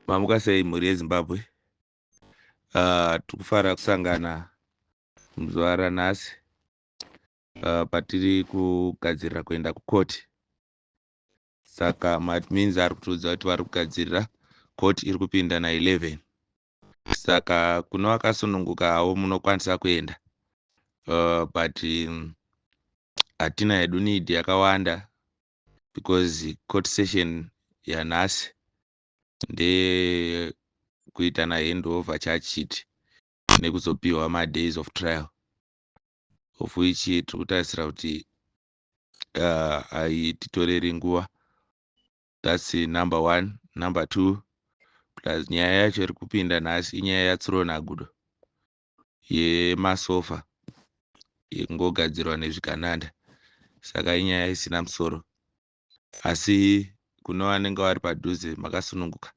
mamuka sei mhuri yezimbabwe uh, ah, tikufara kusangana muzuva ranhasi uh, patiri kugadzirira kuenda kukoti saka maadmins ari kutiudza kuti vari kugadzirira koti iri kupinda na 11 saka kune vakasununguka havo munokwanisa kuenda uh, but hatina um, hedu need yakawanda because court session yanhasi ndeyekuitana handover chachiti nekuzopiwa madays of trial of which tiri kutarisira kuti uh, haititoreri nguva thats number one number two plus nyaya yacho iri kupinda nhasi inyaya yatsuro nagudo yemasofa ingogadzirwa nezvigananda saka inyaya isina musoro asi kune vanenge vari padhuze makasununguka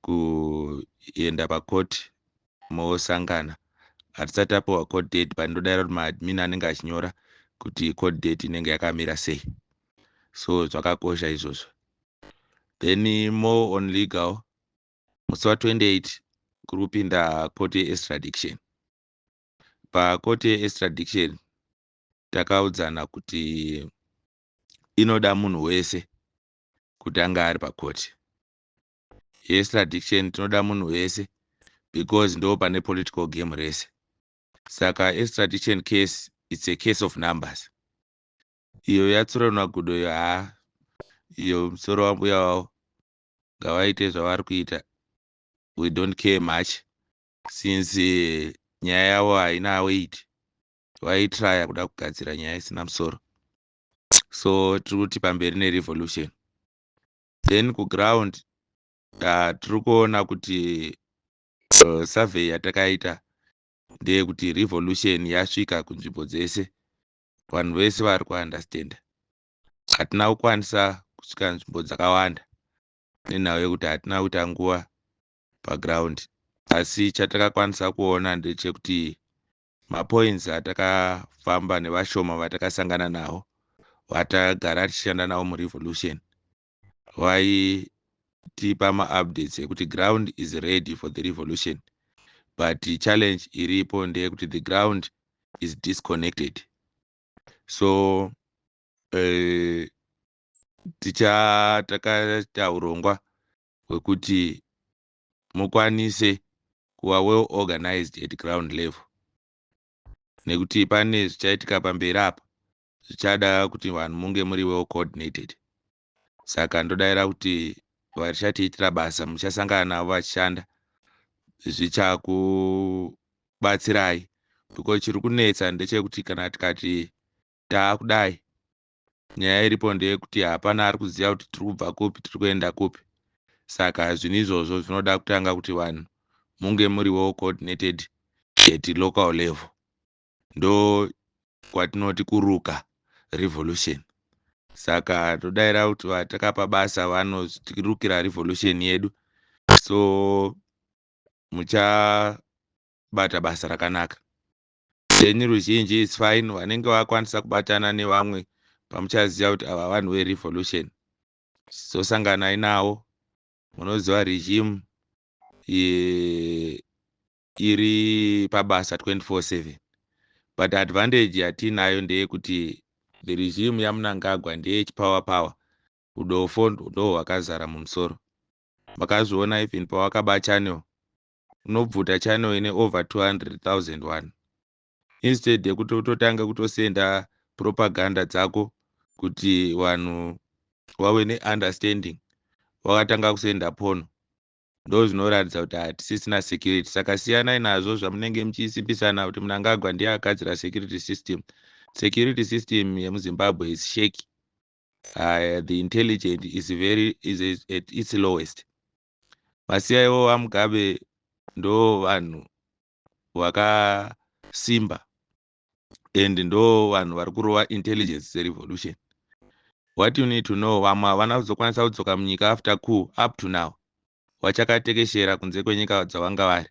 kuenda pakoti mosangana hatisati apiwa code date but ndodaira kuti maadmin anenge achinyora kuti code date inenge yakamira sei so zvakakosha izvozvo then more on legal musi wa 28 kuri kupinda court ye extradiction. Pa court ye extradiction takaudzana kuti inoda munhu wese kuti ange ari pa court ye extradiction tinoda munhu wese because ndo pane political game rese. Saka extradition case it's a case of numbers. Iyo yatsura nagudo iyo haa iyo musoro wambuya wavo ngavaite zvavari kuita we don't care much since nyaya yavo haina weight vaitraya kuda kugadzira nyaya isina musoro so tiri kuti pamberi nerevolution then kuground uh, tiri kuona kuti uh, survey yatakaita ndeyekuti revolution yasvika kunzvimbo dzese vanhu vese vari kuunderstanda hatina kukwanisa kusvika nzvimbo dzakawanda nenhau yekuti hatina kuita nguva paground asi chatakakwanisa kuona ndechekuti mapoints atakafamba nevashoma vatakasangana nawo vatagara tichishanda nawo murevolution vaitipa maupdates ekuti ground is ready for the revolution but challenge iripo ndeyekuti the ground is disconnected so eh, tichatakarita urongwa hwekuti mukwanise kuva well organized at ground level nekuti pane zvichaitika pamberi apa zvichada kuti vanhu munge muri well coordinated saka ndodaira kuti vachatiitira basa muchasangana navo vachishanda zvichakubatsirai because chiri kunetsa ndechekuti kana tikati taakudai nyaya iripo ndeyekuti hapana ari kuziva kuti tiri kubva kupi tiri kuenda kupi saka zvinhu izvozvo zvinoda kutanga kuti vanhu munge muri well coordinated at local level ndo kwatinoti kuruka revolution saka todaira kuti vatakapa basa vanotirukira revolution yedu so muchabata basa rakanaka then ruzhinji is fine vanenge vakwanisa kubatana nevamwe pamuchaziva kuti ava vanhu verevolution sosanganai nawo munoziva regime ye iri pabasa 24/7 but advantage yatiinayo ndeyekuti the regime yamunangagwa ndeye chipower power udofo ndo hwakazara mumusoro makazviona even pawakaba channel unobvuta channel ine over 200001 instead yekuti utotanga kutosenda propaganda dzako kuti vanhu wave neunderstanding wakatanga kusenda pono ndozvinoratidza kuti hatisisina security saka siyanai nazvo zvamunenge muchisimbisana kuti munangagwa ndiye agadzira security system security system yemuzimbabwe is shake uh, the intelligent is very is at its lowest vasiyaiwo vamugabe ndo vanhu vakasimba and ndo vanhu vari kurova intelligence serevolution what you need to know vamwe havana kuzokwanisa kudzoka munyika after cool up to now wachakatekeshera kunze kwenyika dzavanga vari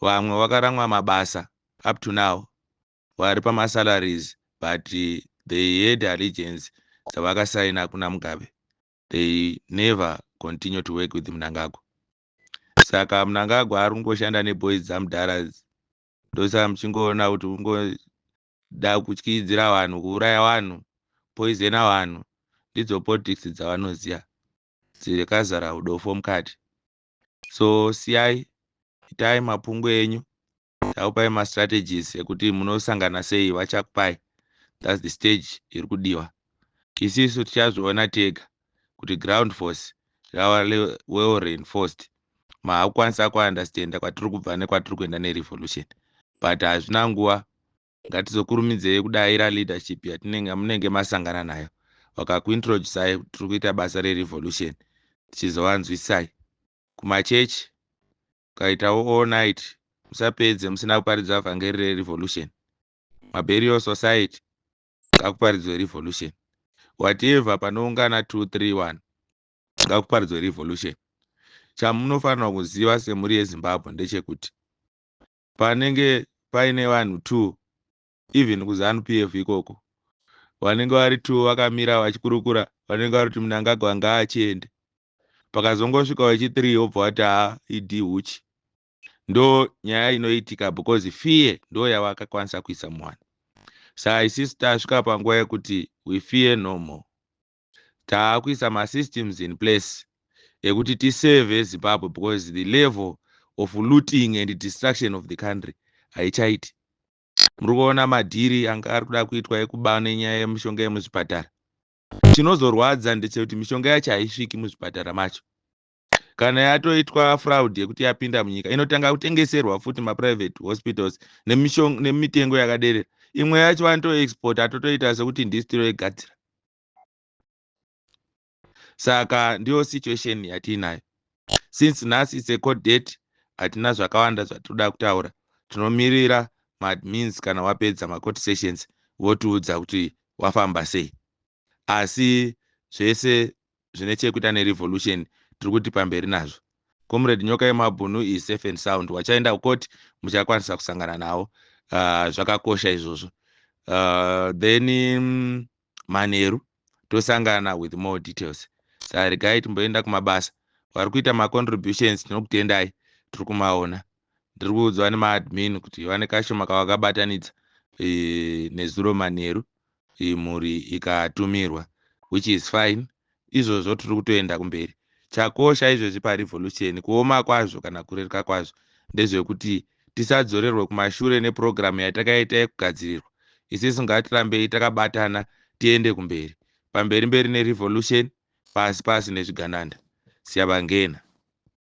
vamwe vakaramwa mabasa up to now vari pamasalaries but eh, they had allegiance dzavakasaina kuna mugabe they never continue to work with munangagwa saka munangagwa ari kungoshanda neboys dzamudhara ndosaka muchingoona kuti ungoda kutyidzira vanhu kuuraya vanhu poizena vanhu ndidzo politics dzavanoziva dzikazara udofo mukati so siyai itai mapungu enyu takupai mastrategies ekuti munosangana sei vachakupai thats the stage iri kudiwa isisu tichazviona tega kuti ground force rava well reinforced mahakukwanisa kuunderstanda kwatiri kubva nekwatiri kuenda nerevolution but hazvina nguva ngatizokurumidzei kudaira leadership yatinenge munenge masangana nayo vakakuintroducai tiri kuita basa rerevolution tichizovanzwisai kumachechi ukaitawo all night musapedze musina kuparidza vhangeri rerevolution maburial society ngakuparidzwe revolution whatever panoungana 231 ngakuparidzwe revolution chamunofanirwa kuziva semhuri yezimbabwe ndechekuti panenge paine vanhu two even kuzanu p f ikoko vanenge vari two vakamira vachikurukura vanenge vari kuti munangagwa ngaachiende pakazongosvika wechithree wobva wati haa idi huchi ndo nyaya inoitika because fear ndo yavakakwanisa kuisa mwana sa isis tasvika panguva yekuti we fear no more taakuisa masystems in place ekuti tiseve zimbabwe because the level of looting and destruction of the country haichaiti muri kuona madhiri anga ari kuda kuitwa ekuba nenyaya yemishonga yemuzvipatara chinozorwadza ndechekuti mishonga yacho haisviki muzvipatara macho kana yatoitwa fraud yekuti yapinda munyika inotanga kutengeserwa futi maprivate hospitals nemitengo yakaderera imwe yacho vanotoexport atotoita sekuti ndisi tinoigadzira saka ndiyo situation yatiinayo since nhasi its a court date hatina zvakawanda zvatinoda kutaura tinomirira maadmins kana wapedza macourt sessions votiudza kuti wafamba sei asi zvese zvine chekuita nerevolution tiri kuti pamberi nazvo. Comrade Nyoka Yemabhunu is safe and sound. Wachaenda kucourt muchakwanisa kusangana nawo. Uh, zvakakosha izvozvo. Uh, then um, manheru tosangana with more details. Sarigai timboenda kumabasa. Vari kuita macontributions tinokutendai tiri kumaona. ndiri kuudzwa nemaadmin kuti vane kashoma kavakabatanidza eh, nezuro manheru eh, mhuri ikatumirwa which is fine izvozvo tiri kutoenda kumberi chakosha izvezvi parevolution kuoma kwazvo kana kureruka kwazvo ndezvekuti tisadzorerwe kumashure nepurogiramu yatakaita yekugadzirirwa isisu ngatirambei takabatana tiende kumberi pamberi mberi nerevolution pasi pasi nezvigananda siyabangena